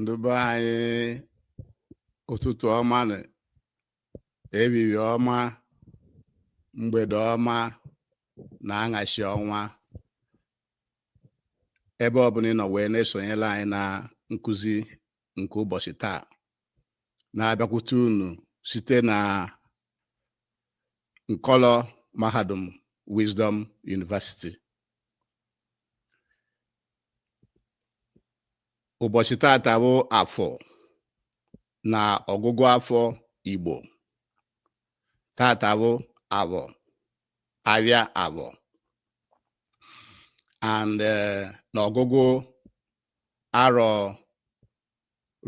ndị be anyị ụtụtụ ọma nụ ehihie ọma mgbede ọma na aṅasị ọma ebe ọbụla ị nọ wee na-esonyela anyị na nkụzi nke ụbọchị taa na-abịakwute unu site na nkọlọ mahadum Wisdom University ụbọchị tata bụ afọ na ọgụgụ afọ Igbo tata bụ afọ afịa afọ and eh, na ọgụgụ arọ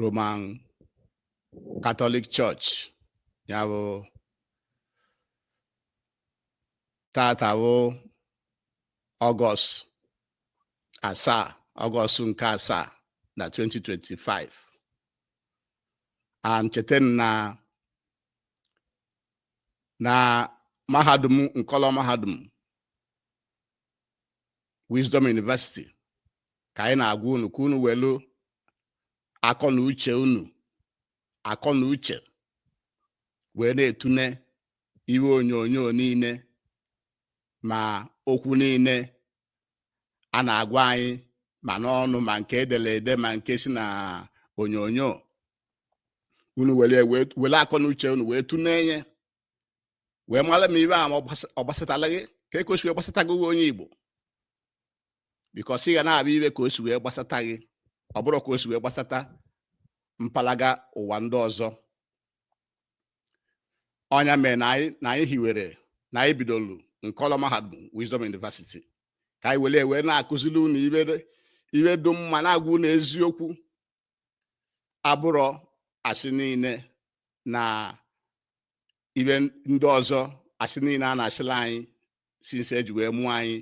Roman Catholic Church ya bụ tata bụ ọgọst asaa ọgọst nke asaa na 2025 and cheta na na mahadum nkọlọ mahadum Wisdom University ka anyị na-agwa unu ka unu welu akọ na uche unu akọ na uche wee na-atune ife onyonyo niile ma okwu niile a na-agwa anyị ma n'ọnụ ma nke edere ede ma nke si na onyonyo unu were akọ na uche unu wee tune ya wee mara ma ife a ma ọ gbasatala gị ka o si wee gbasata gị nwa onye Igbo because ị ga na-afụ ife ka o si wee gbasata gị ọ bụrọ ka o si wee gbasata mpalaga ụwa ndị ọzọ ọ nya mere na anyị na anyị hiwere na anyị bidolu nkọlọ mahadum Wisdom University ka anyị were wee na-akụziri unu ife dị mma na-agwa unu eziokwu abụrọ asị niile na ife ndị ọzọ asị niile a na-asịla anyị since e ji wee mụọ anyị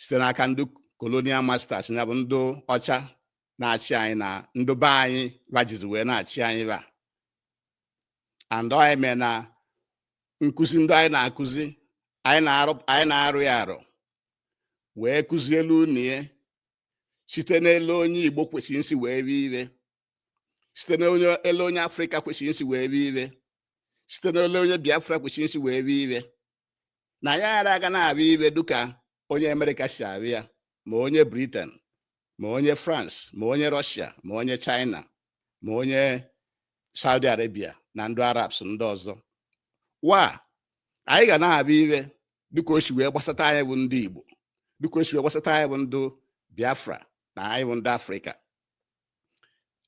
site n'aka ndị colonial masters ya bụ ndị ọcha na-achị anyị na ndị be anyị ba jizi wee na-achị anyị ba and ọ nya mere na nkụzi ndị anyị na-akụzi anyị na-arọ ya arọ wee kụzielu unu ya site n'ele onye Igbo kwesịrị nsi wee fụ ife site n'ele onye Afrịka kwesịrị nsi wee fụ ife site n'ele onye Biafra kwesịrị nsi wee fụ ife na ya ghara aga na-afụ ife dịka onye Amerịka si afụ ya ma onye Britain ma onye France ma onye Rọshia ma onye China ma onye Saudi Arabia na ndị Arabs ndị ọzọ wa anyị ga na-abịa iwe dịka o si wee gbasata anyị bụ ndị Igbo dịka o si wee gbasata anyị bụ ndị Biafra na anyị bụ ndị Afrịka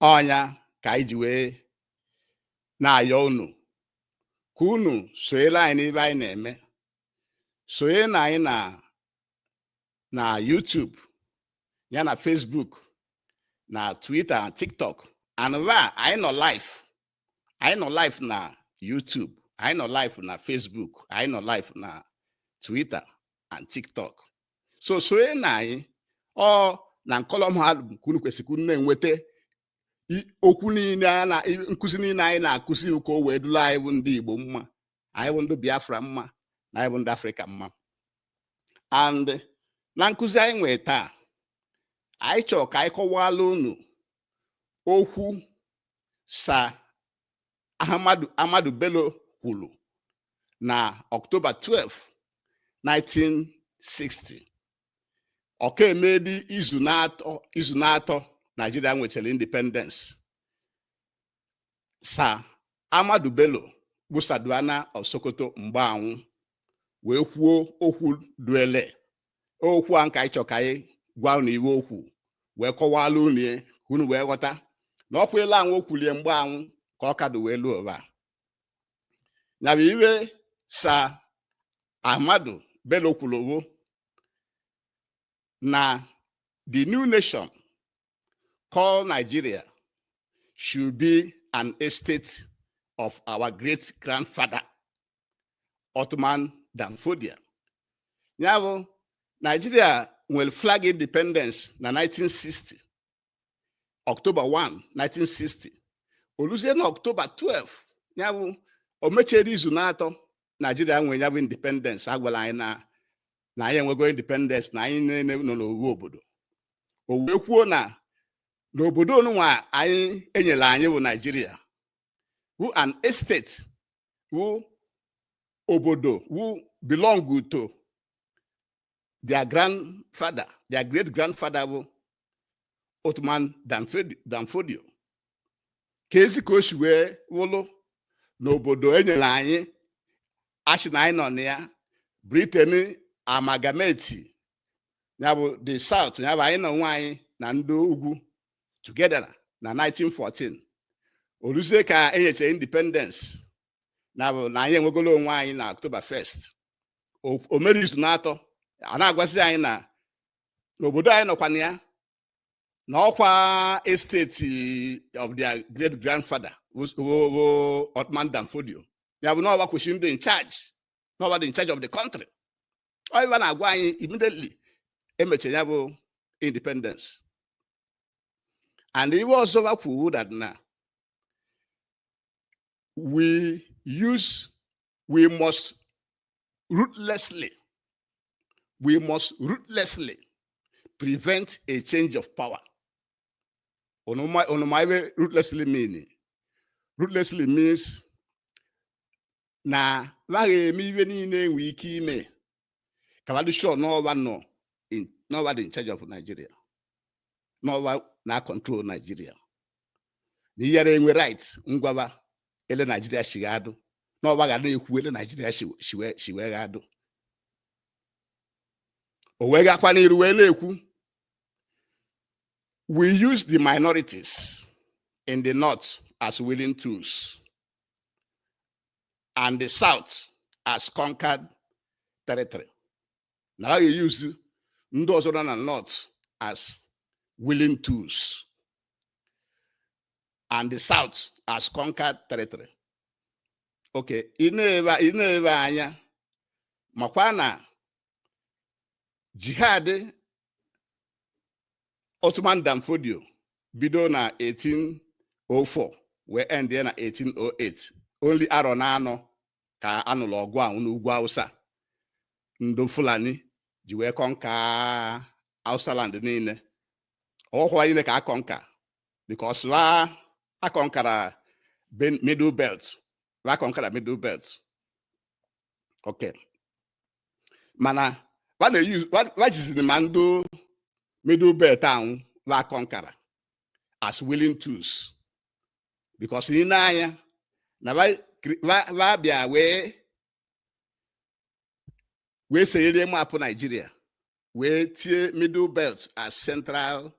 ọ nya ka anyị ji wee na-ayọ unu ka unu sonyere anyị n'ebe anyị na-eme sonye na anyị na na YouTube ya na Facebook na Twitter na TikTok and ebe anyị nọ live anyị nọ live na YouTube anyị nọ live na Facebook anyị nọ live na Twitter and TikTok so sonye na anyị ọ na nkọlọ mahadum ka unu kwesịrị unu na-enweta okwu niile a na nkụzi niile anyị na-akụzi ka o wee dụla anyị bụ ndị Igbo mma anyị bụ ndị Biafra mma na anyị bụ ndị Afrịka mma and na nkụzi anyị nwee taa anyị chọrọ ka anyị kọwala unu okwu Sir Ahmadu Ahmadu Bello kwuru na Ọktoba 12 1960 ọ ka emedị izu n'atọ izu n'atọ Naijiria nwechara independence Sir Ahmadu Bello bụ Sardauna of Sokoto mgbe anwụ wee kwuo okwu duele okwu anwụ ka anyị chọ ka anyị gwa unu iwe o kwu wee kọwala unu ya ka unu wee ghọta na okwu elu anwụ o kwulie mgbe anwụ ka ọ ka dụ wee luo ụwa nya bụ iwe Sir Ahmadu Bello kwuru bụ na the new nation called Nigeria should be an estate of our great grandfather Othman Danfodio. Ya bụ Nigeria nwere flag independence na 1960 October 1 1960 o luzie na October 12 ya bụ o mechere izu n'atọ Nigeria nwere ya bụ independence a gwala anyị na na anyị enwego independence na anyị niile nọ n'owu obodo o wee kwuo na n'obodo onunwa anyị e nyere anyị bụ Naijiria wụ an estate wụ obodo wụ belong to their grandfather their great grandfather bụ Othman Danfodio kezi ka o si wee wụlụ na obodo e nyere anyị a shị na anyị nọ na ya Britain amalgamate ya bụ the South ya bụ anyị na onwe anyị na ndị ugwu together na 1914 o luzie ka e nyechara independence nya bụ na anyị enwegolo onwe anyị na October 1st o mere izu n'atọ a na-agwazi anyị na n'obodo anyị nọkwa na ya na ọkwa estate of their great grandfather o Othman Dan Fodio ya bụ na ọ wa kwesịrị ịdị in charge na ọ wa dị in charge of the country ọ ihe ba na-agwa anyị immediately e mechara ya bụ independence and ihe ọzọ o kwuru that na we use, we must ruthlessly, we must ruthlessly prevent a change of power. Onomaiwe ruthlessly meaning. Ruthlessly means na laghị eme iwe niile enwe ike ime ka ba dị sure na ọ wa dị in charge of Nigeria na ọ wa na-control Nigeria na ị yara enwe right ịgwa ba ele Nigeria shi ga-adụ na ọ wa ga na-ekwu ele Nigeria shi wee ga-adụ o wee gakwa n'iru wee na-ekwu we use the minorities in the north as willing tools and the south as conquered territory na ha ga-e-use ndị ọzọ nọ na north as willing tools and the south as conquered territory okay ị nebe anya makwa na jihad Othman Dan Fodio bido na 1804 wee endie na 1808 only arọ na anọ ka a nụlụ ọgụ ahụ n'ugwu Hausa ndụ Fulani ji wee conquer Hausa land niile ọ họ wa niile ka a conquer because wa akọnkara middle belt wa akọnkara middle belt okay mana wa jiziri ma ndị middle belt anwụ wa kọnkara as willing tools because ị nee anya na va bịa wee wee senyere map Nigeria wee tie middle belt as central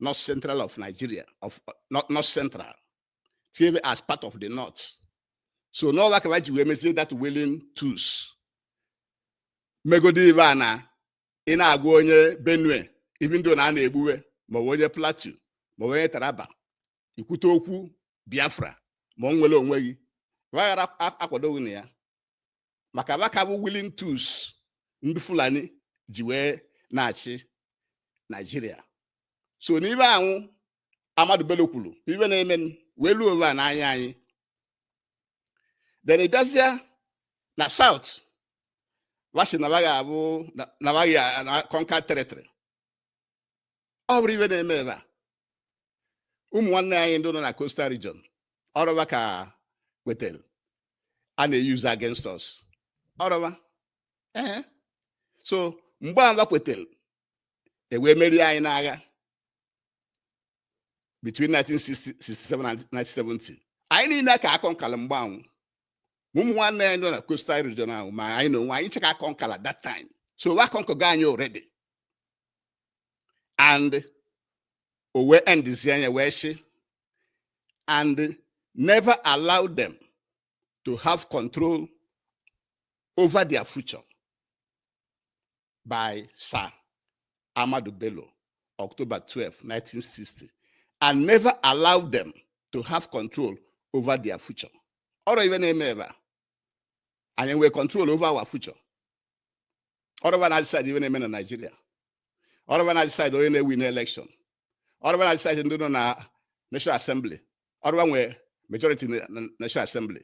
north central of nigeria of north central tie as part of the north so na ọ wa ka va ji wee mezie that willing tools megodi ibe a na ị na-agwa onye benue even though na a na-egbu wa maọbụ onye plateau maọbụ onye taraba i kwute okwu biafra ma inwere onwe gị wa yara akwado gị na ya maka ba ka bụ willing tools ndị fulani ji wee na-achị nigeria so na ibe anwụ ahmadu bello kwuru ibe na-eme wee ruo ebe a n'anya anyị then ị bịazịa na south wa sị na ba ga-abụ na ba ga na conquer territory ọ bụrọ ibe na-eme ebe a ụmụ nwanne anyị ndị nọ na coastal region ọ rọ ba ka wetara a na-euse against us ọ rọ ba ee so mgbe a kwetara e wee merie anyị n'agha between 1967 and 1970 anyị niile ka a conquerla mgbe anwụ ụmụ nwanne anyị nọ na coastal region ahụ ma anyị na onwe anyị cha ka a conquerla that time so a conquergo anyị already and o wee endizie ya wee sị and never allow them to have control over their future by Sir Ahmadu Bello, October 12, 1960, and never allow them to have control over their future. Ọ rọ ibe na-eme ebe a anyị nwee control over our future ọ rọ ba na-adecide ibe na-eme na Naịjirịa ọ rọ ba na-adecide onye na-ewin election ọ rọ ba na-adecide ndị nọ na National Assembly ọ rọ ba nwee majority na na National Assembly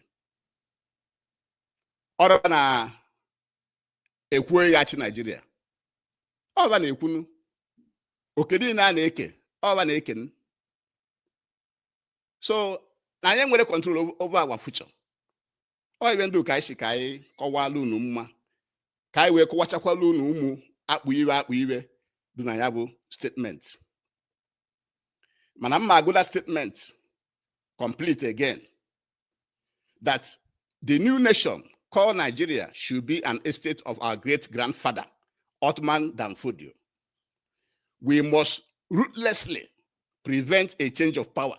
ọ rọ ba na-ekwu onye ya-achị Naịjirịa ọ ba na-ekwunu oke niile a na-eke ọ ba na-eken so na anyị enwerọ control over our future ọ ibe ndị ka anyị sị ka anyị kọwala unu mma ka anyị wee kọwachakwala unu ụmụ akpụ ibe akpụ ibe dị na ya bụ statement mana m ma-agụ the statement complete again that the new nation called Nigeria should be an estate of our great grandfather, Othman Dan Fodio. We must ruthlessly prevent a change of power.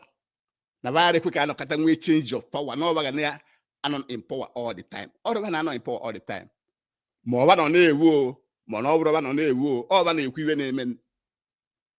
na va ayarọ ekwe ka a nọkata nwee change of power na ọ ba ga na-anọ in power all the time ọ rọ ba na-anọ in power all the time ma ọ ba nọ na-ewu o ma na ọ bụrọ ba nọ na-ewu o ọ ba na-ekwu ibe na-eme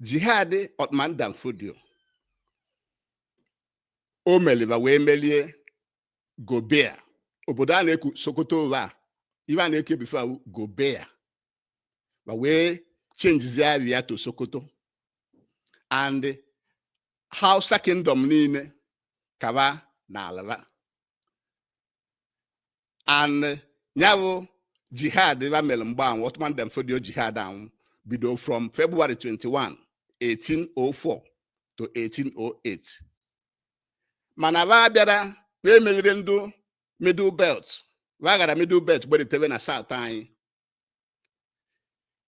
jihad Othman Dan Fodio o meli ba wee melie Gobir obodo a na-ekwu Sokoto ụwa a ibe a na-ekwu ya before wụ Gobir ba wee chenjizie aba ya to Sokoto and Hausa kingdom niile ka ba nala ba and ya bụ jihad ba mere mgbe anwụ Othman Dan Fodio jihad anwụ bido from February 21 1804 to 1808 mana ba bịara ba emerirọ ndị middle belt ba ghara middle belt gbedatara na south anyị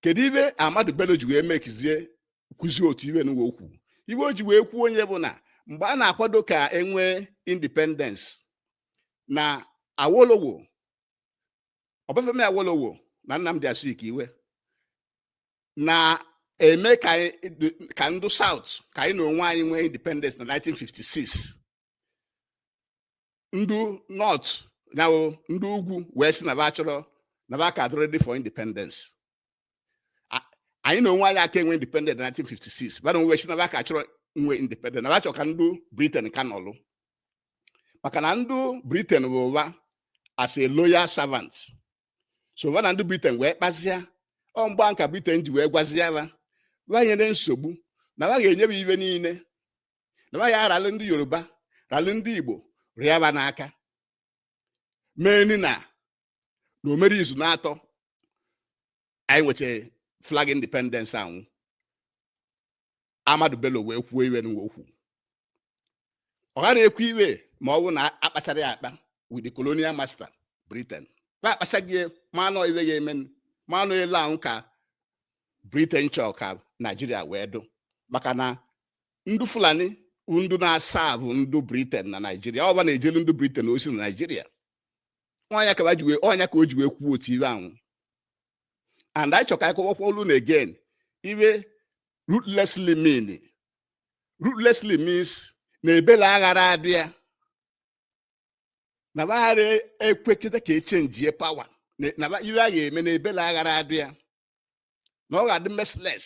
kedu ibe Ahmadu Bello ji wee mekizie kwuzie otu ibe nụwa o kwu ibe o ji wee kwuo nya bụ na mgbe a na-akwado ka e nwee independence na Awolowo Ọbafemi Awolowo na Nnamdi Azikiwe na-eme ka ndụ South ka anyị na onwe anyị nwee independence na 1956 ndị north na ndị ugwu wee sị na ba chọrọ na ba aka adị ready for independence anyị na onwe anyị aka enwe independence na 1956 ba na onwe sị na ba ka chọrọ nwe independence na ba chọrọ ka ndị Britain ka nọlụ maka na ndị Britain bụ ba as a loyal servant so ba na ndị Britain wee kpazia ọ mgbe a ka Britain ji wee gwazia ba ba nyere nsogbu na ba ga-enye ba ibe niile na ya ralụ ndị yoruba ralụ ndị igbo rịa ba n'aka mee ni na na o mere izu naatọ anyị nwecha flag independence ahụ Ahmadu Bello wee kwuo iwe nụwa o kwu ọ ghara ekwu iwe ma ọ bụ na a kpachara ya akpa with the colonial master britain ba akpachago ya ma na ọ iwe ya eme ma na ọ ele ahụ ka britain chọọ ka naijiria wee dụ maka na ndị fulani ndụ na-aserve ndụ Britain na naijiria ọ ba na-ejelu ndụ Britain ozi na naijiria ọ nya ka ọ nya ka o ji wee kwuo otu ibe ahụ and anyị chọ ka a kọwakwuolu unu again iwe ruthlessly mean ruthlessly means na ebela aghara adị ya na ba ghara ekwekịta ka e changie power na iwe a ga-eme na ebela aghara adị ya na ọ ga-adị merciless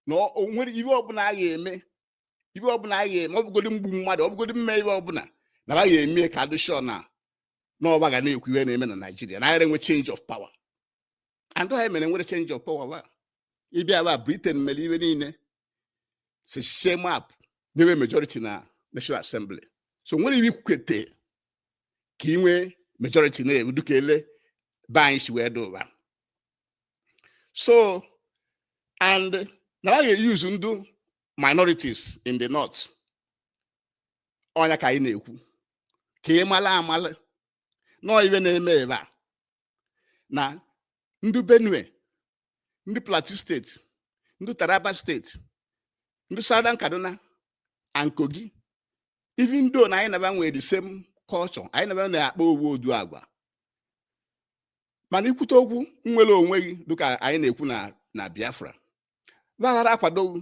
na o nwere ibe ọbụla a ga-eme ibe ọbụla a ga-eme ọ bụgodi mgbu mmadụ ọ bụgodi mme ibe ọbụla na a ga-eme ka a dị sure na ọ ba ga na-ekwu ihe na-eme na Naịjirịa na agara enwe change of power and ihe mere nwere change of power wa ịbịa ba Britain mere ibe niile si sie map nye wa majority na National Assembly so nwere ibe i kwukete ka ị nwee majority na-ewu dịka ele be anyị si wee dị ụwa so and na a ga-euse ndụ minorities in the north ọ nya ka anyị na-ekwu ka ị mara amala na ọ iwe na-eme ebe a na ndị benue ndị plateau state ndị taraba state ndị southern kaduna and kogi even though na anyị na ba nwere the same culture anyị na ba na-akpa owu ụdị agwa mana i kwute okwu nwere onwe gị dịka anyị na-ekwu na na biafra gbaghara akwadoghị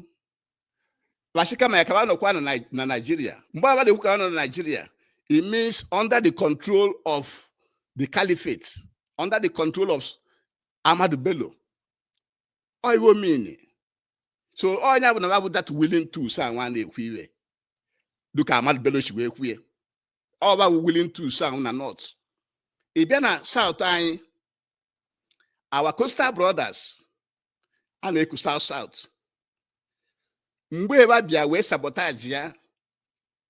wa sị kama ka wa nọkwa na Nigeria mgbe a na-ekwu ka nọ na Nigeria it means under the control of the caliphate under the control of Ahmadu Bello ọ ihe ọ mean so ọ ya bụ na wa bụ that willing tools a nwa na-ekwu ihe dịka Ahmadu Bello si wee kwue ọ wa bụ willing tools ahụ na north ị bịa na south anyị our coastal brothers a na-eku south south mgbe wa bịa wee sabotage ya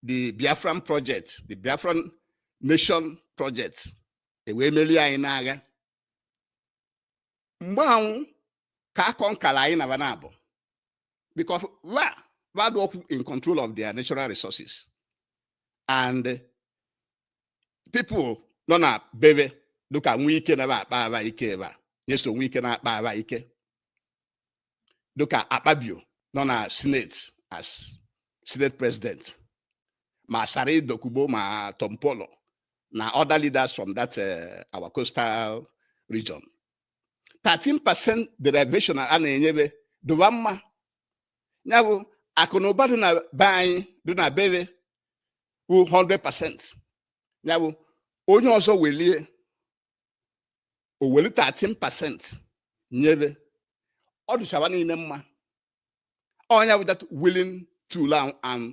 the biafran project the biafran nation project e wee merie anyị n'agha mgbe ahụ ka akọ nkara anyị na wa na-abụ because wa wa adịrọ in control of their natural resources and people nọ na be wa dịka Wike na akpa aba ike ebe a Nyesom Wike na-akpa aba ike dịka akpabio nọ na senate as senate president ma Asari Dokubo ma tompolo na other leaders from that uh, our coastal region 13% derivation a na-enye wa dụ wa mma ya bụ akụ na ụba dị na be anyị dị na be wa bụ 100% ya bụ onye ọzọ welie o weli 13% nye wa ọ dịcha wa niile mma ọ ya bụ that willing tool ahụ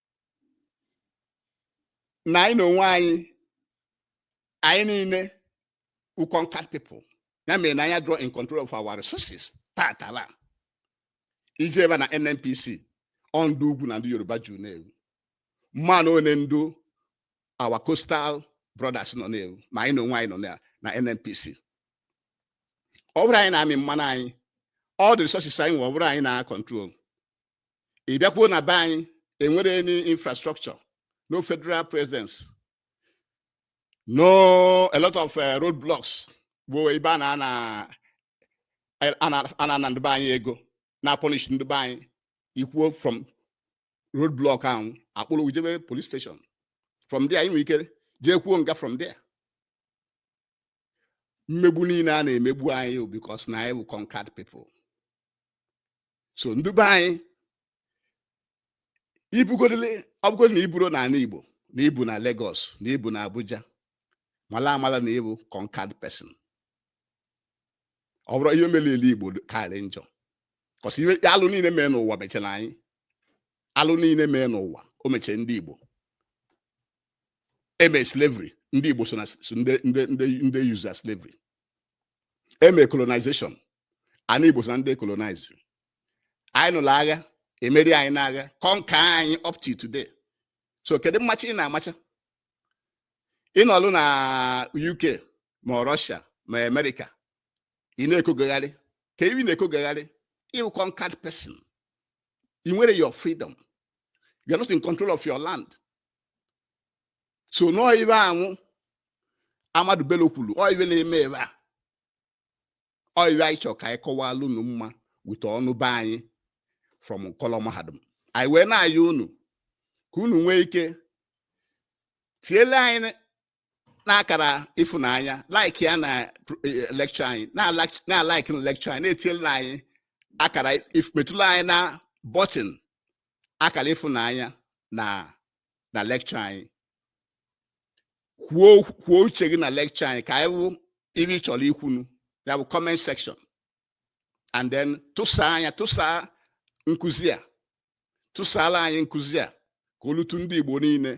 na anyị na onwe anyị anyị niile bụ conquered people ya mere na anyị adịrọ in control of our resources taata ị jebe na nnpc ọ ndị ugwu na ndị yoruba juru n'ebe ahụ mana ole ndị our coastal brothers nọ n'ebe ahụ ma anyị na onwe anyị nọ na na nnpc ọ bụrọ anyị na-amị mmanụ anyị all the resources anyị nwe ọ bụrọ anyị na-control ị bịakwuo na be anyị enwerọ any infrastructure no federal presence no a lot of uh, road blocks bụ ebe a na-ana ana ndị be anyị ego na-apunish ndị be anyị i kwuo from road block ahụ a kpụrụ ị jebe police station from there ị nwere ike jekwuo nga from there mmegbu niile a na-emegbu anyị because na anyị bụ conquered people so ndị be anyị ibugodole ọ bụgodị na i burọ n'ala Igbo na i bu na Lagos na i bu na Abuja mala amala na ị bụ conquered person ọ bụrụ ihe mere ele Igbo karị njọ cause ihe alụ niile mee n'ụwa mechara anyị alụ niile mee n'ụwa o mecha ndị Igbo eme slavery ndị Igbo so na ndị e use as slavery eme colonization ana Igbo so na ndị e colonize anyị nụrụ agha emeri anyị n'agha conquer anyị up to today so kedu mmacha ị na-amacha ịnọlụ na UK ma Russia ma America ị na-ekogagharị ka ị na-ekogagharị ị wụ conquered person i nwerọ your freedom you are not in control of your land so nọọ iwe anwụ Ahmadu Bello kwuru ọ iwe na-eme ebe a ọ iwe anyị chọrọ ka anyị kọwalụ unu mma with onu be anyị from nkọlọ mahadum anyị wee na-ayọ unu ka unu nwee ike tiele anyị na akara ịfụnanya like ya na eh, lecture anyị na-alike na lecture anyị na-etinyela anyị akara metụla anyị na button akara ịfụnanya na na lecture anyị kwuo kwuo uche gị na lecture anyị ka anyị wụ iwe ị chọrọ ikwu na ya bụ comment section and then tụsaa anya tụsaa nkụzi a tụsaala anyị nkụzi a ka o lute ndị Igbo niile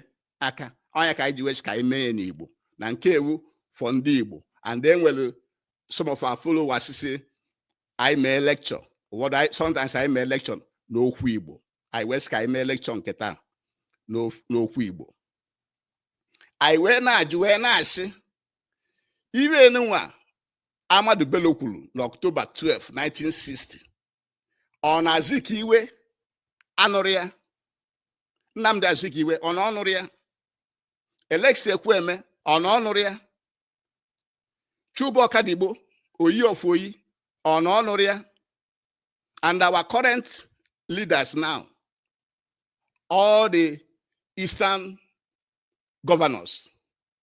aka ọ nya ka anyị ji wee sị ka anyị mee ya n'Igbo na nke a wụ for ndị Igbo and then e nwere some of our followers sị anyị mee lecture ụfọdụ sometimes anyị mee lecture n'okwu Igbo anyị wee sị ka anyị mee lecture nke taa n'okwu Igbo anyị wee na-ajụ wee na-asị iwe nụwa Ahmadu Bello kwuru na October 12, 1960 ọ na Azikiwe anụrọ ya Nnamdi Azikiwe ọ na ọ nụrọ ya Alex Ekwueme ọ na ọ nụrọ ya Chuba Okadigbo Oyi of Oyi ọ na ọ nụrọ ya and our current leaders now all the eastern governors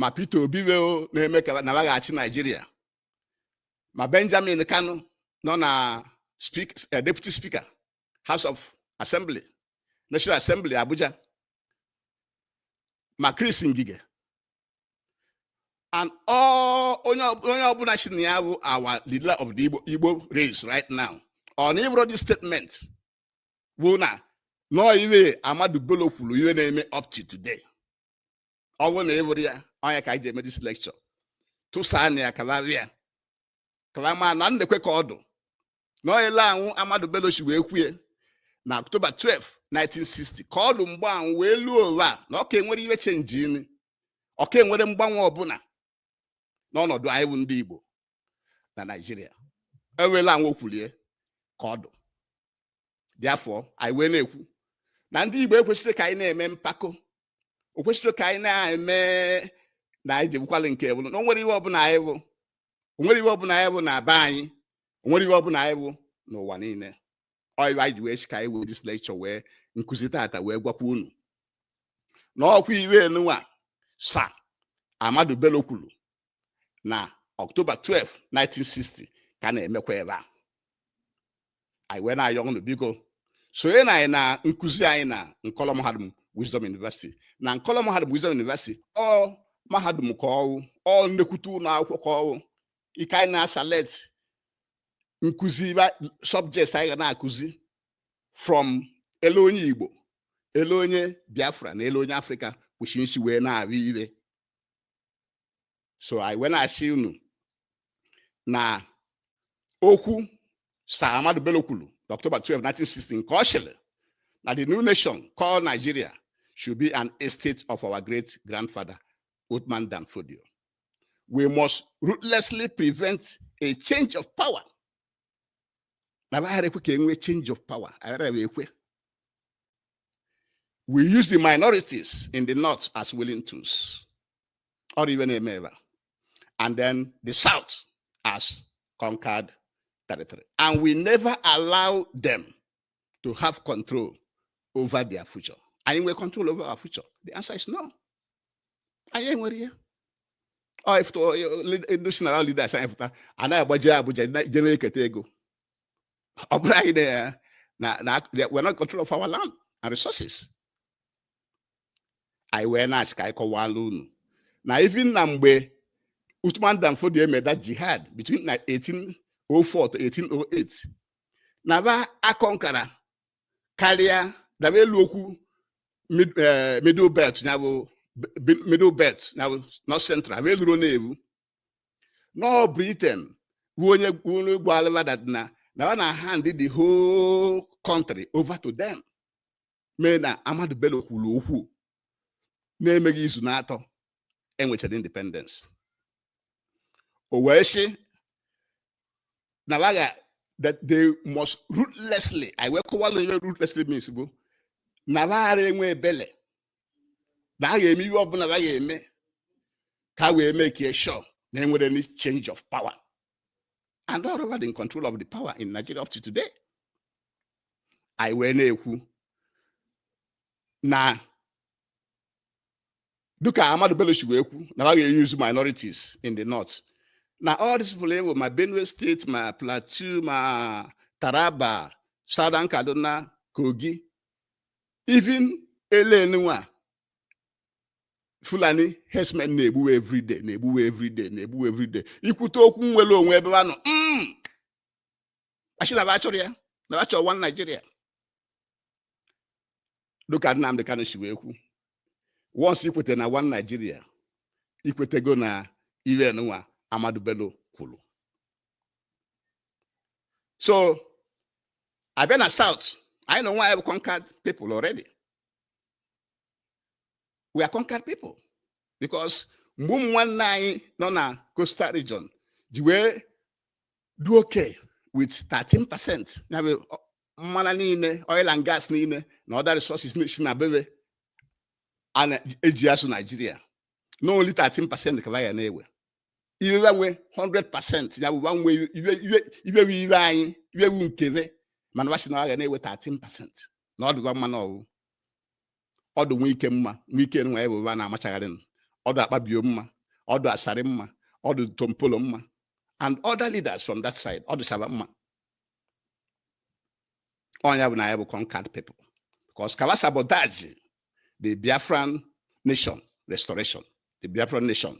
ma Peter Obi wee na-eme ka na wa ga-achị Naijiria ma Benjamin Kanu nọ na eh, deputy speaker House of Assembly National Assembly Abuja ma Chris Ngige and all onye ọbụla sị na ya bụ our leader of the Igbo Igbo race right now ọ na ị wụrọ this statement bụ na nọọ iwe Ahmadu Bello kwuru iwe na-eme up to today ọ bụrụ na ị wụrọ ya ọ nya ka anyị ji eme this lecture tụsaa na ya kalarịa kalama na nekwe ka ọ dụ na ọyele anwụ Ahmadu Bello si wee kwue na October 12 1960 ka ọ dụ mgbe anwụ wee luo ụwa na ọ ka enwerọ iwe change-ịrị ọ ka enwerọ mgbanwe ọbụla n'ọnọdụ anyị bụ ndị Igbo na Naịjirịa ewela anwụ o kwulie ka ọ dụ therefore anyị wee na-ekwu na ndị Igbo ekwesịrọ ka anyị na-eme mpako o kwesịrọ ka anyị na-eme na anyị jebukwala nke bụrụ na onwerọ ihe ọbụla anyị bụ onwerọ ihe ọbụla anyị bụ na be anyị onwerọ ihe ọbụla anyị bụ n'ụwa niile ọ ya wa anyị ji wee sị ka anyị wee this lecture wee nkụzi tata wee gwakwa unu na ọkwa ihe nunwa Sir Ahmadu Bello kwuru na October 12 1960 ka na-emekwa ebe a anyị wee na-ayọ unu biko sonye na anyị na nkụzi anyị na nkọlọ mahadum wisdom university na nkọlọ mahadum wisdom university ọ mahadum ka ọwụ ọ nnukwute ụlọ akwụkwọ ka ọwụ ike anyị na-aselect nkụzi subjects anyị ga na-akụzi from ele onye Igbo ele onye Biafra na ele onye Afrịka kwesị isi wee na-ahụ ihe so anyị wee na-asị unu na okwu Sir Ahmadu Bello kwuru n'October 12 1960 nke ọ sịrị na the new nation called Nigeria should be an estate of our great grandfather Uthman Dan Fodio we must ruthlessly prevent a change of power na aghara ekwe ka enwee change of power aghara ekwe we use the minorities in the north as willing tools or even a member and then the south as conquered territory and we never allow them to have control over their future anyị nwere control over our future the answer is no anyị enwerọ ya national leaders anyị pụta anaghị agbaje Abuja je na-eketa ego ọ bụrụ anyị na na we're not control of our land and resources anyị wee na-asị ka anyị kọwalụ unu na even na mgbe Uthman Dan Fodio eme that jihad between 1804 to 1808 na ba aconquera karịa daba elu okwu eh, middle belt ya bụ middle belt ya bụ north central bụ eluro na-ebu na ọ Britain bụ onye onye gwalụ ba that na na ọ na hand the whole country over to them mana Ahmadu Bello kwuru okwu na-emeghị izu n'atọ enwechara independence o wee sị na ba ga that they must ruthlessly anyị wee kọwalụ ihe ruthlessly means bụ na ba agarọ enwe ebele na a ga-eme ihe ọbụla ba ga-eme ka a wee make sure na enwerọ any change of power and ọ ba dị in control of the power in Nigeria up to today anyị wee na-ekwu na dịka Ahmadu Bello si wee kwu na ha ga-euse minorities in the north na all these people ewu ma Benue state ma Plateau ma Taraba Southern Kaduna Kogi even ele nunwa Fulani herdsmen na-egbuwe everyday na-egbuwe everyday na-egbuwe everyday i kwute okwu nnwere onwe ebe anọ mm. asị na ba chọrọ ya na ba chọrọ one Nigeria dịka Nnamdi Kanu si wee kwuo once ikweta na one Nigeria ikwetego na iwe nụwa Ahmadu Bello kwuru so abịa na South anyị nụwa bụ conquered people already we are conquered people because mgbe ụmụ nwanne anyị nọ na coastal region ji wee dị okay with 13 percent ya bụ mmanụ niile oil and gas niile na other resources si na be we eji azụ Naijiria na only 13 percent ka wa ga na-ewe iwe wa nwe 100 percent ya bụ wa nwe iwe wu iwe anyị iwe wu nke we mana wa sị na wa ga na-ewe 13 percent na ọ dị wa mma na ọ wụ ọ dụ Wike mma Wike nwa ya bụ ba na-amachagharị nụ. ọ dụ Akpabio mma ọ dụ Asari mma ọ dụ Tompolo mma and other leaders from that side ọ dụsa ba mma ọ ya bụ na ya bụ conquered people because ka ba sabotage the biafran nation restoration the biafran nation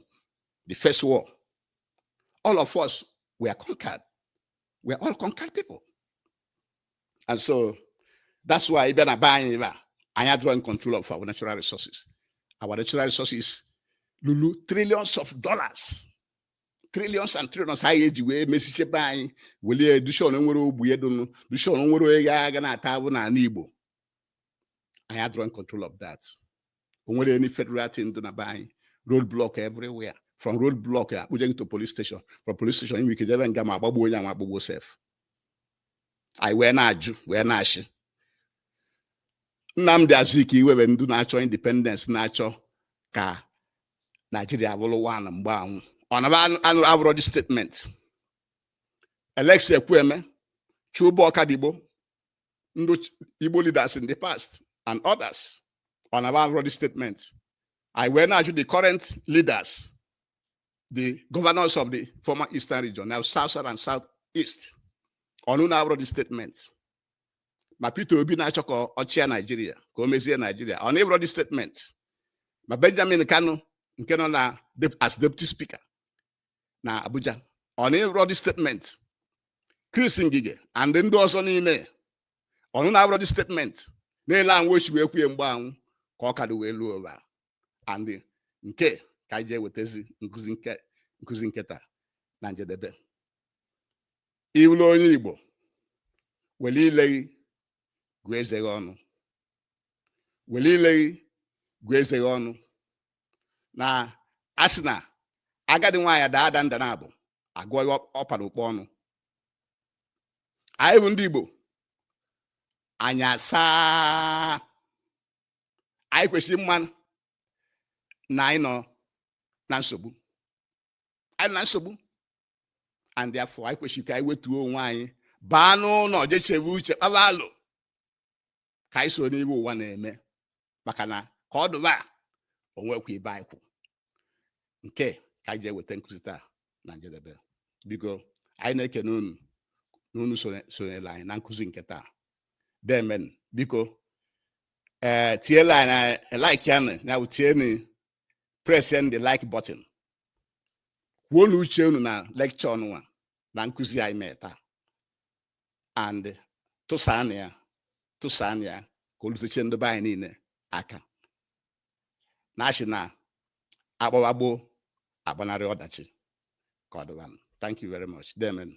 the first war all of us were conquered we are all conquered people and so that's why ị bịa na be anyị ebe a anyị adịrọ in control of our natural resources our natural resources lulu trillions of dollars trillions and trillions a ga-eji wee mezisie be anyị welie dushon nwerọ ogbenye dụ nụ dushon o nwerọ onye ya ga na-ata afụfụ n'ala Igbo anyị adịrọ in control of that o nwerọ any federal thing dị na be anyị road block everywhere from road block akpụje gị to police station from police station i nwe ike jebe nga ma agbagbuo onye anwa agbagbuo sef anyị wee na-ajụ wee na-asị Nnamdi Azikiwe be ndị na-achọ independence na-achọ ka Naijiria bụrụ one mgbe anwụ ọ na ba anụburọ the statement Alex Ekwueme Chuba Ọkadigbo ndị Igbo leaders in the past and others ọ na ba anụrọ the statement anyị wee na-ajụ the current leaders the governors of the former eastern region now south south and south east ụnụ anụrọ the statement ma Peter Obi na-achọ ka ọ chịa Naijiria ka o mezie Naijiria ọ nụrọ the statement ma Benjamin Kanu nke nọ na as deputy speaker na Abuja ọ nụrọ the statement Chris Ngige and ndị ọzọ niile ụnụ anụrọ the statement na-ele anwụ o si wee kwuo ya mgbe anwụ ka ọ ka dụ wee luo ugbua and nke ka anyị ji ewetazi nkụzi nketa na njedebe ị wụlụ onye Igbo were ile gị gụọ eze gị ọnụ were ile gị gụọ eze gị ọnụ na asị na agadi nwaanyị daa ada nda naabọ a gụọ ihe ọ pa n'ukpa ọnụ anyị bụ ndị Igbo anya asaa anyị kwesịrị ịma na anyị nọ na nsogbu anyị nọ na nsogbu and therefore anyị kwesịrị ka anyị wetuo onwe anyị baa n'ụlọ je chebe uche kpaba alo ka anyị soro n'ihe ụwa na-eme maka na ka ọ dụ ugbua o nweghị ebe anyị kwụ nke a ka anyị ji eweta nkụzi taa na njedebe biko anyị na-ekene unu na unu sonyere anyị na nkụzi nke taa deemenụ biko ee eh, tiela anyị na eh, like ya na bụ tienu press the like button kwuonụ uche unu na lecture nụnwa na nkụzi anyị mee taa and tụsaanụ ya tụsaanụ ya ka o lutechaa ndị be anyị niile aka na asị na agbawa gboo agbanarị ọdachi ka ọ dịbanụ thank you very much deemenụ